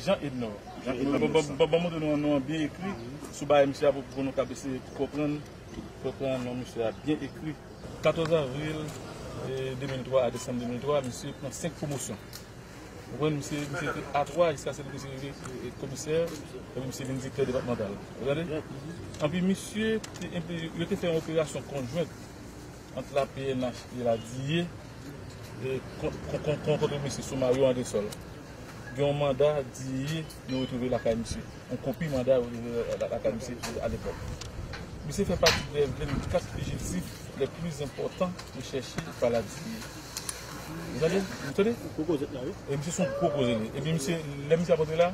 Jean Ednor Ban mwen yon non byen ekri sou bagay misye a pou nou kab eseye konprann non misye a byen ekri. 14 avril 2003 a desanm 2003 misye pran 5 pwomosyon ou konprann misye te a 3 jiska se lè misye rive komisè epi misye vin direktè depatmantal ou tande anpi misye te yo te fè yon operasyon konjwent Ant la pnh e la DIE, kon kote mesye sou Mario Andresol, gen yon manda DIE yo retwouve lakay misye. Yon kopi manda yo retwouve lakay misye alepòk. Misye fè pati brèv 24 fijiltif lè pli zenpòtan rechèche pa la DIE. Ou tande? Ou tande? Gwo koze la wi. E misye se yon gwo koze li. Epi misye, lè misye ap antre la,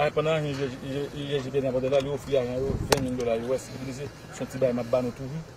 a pandan ajan UGHJPN ap antre la, li ofri ajan yo 20 mil dola US. Li di misye, se yon ti bagay m ap ba nou toujou.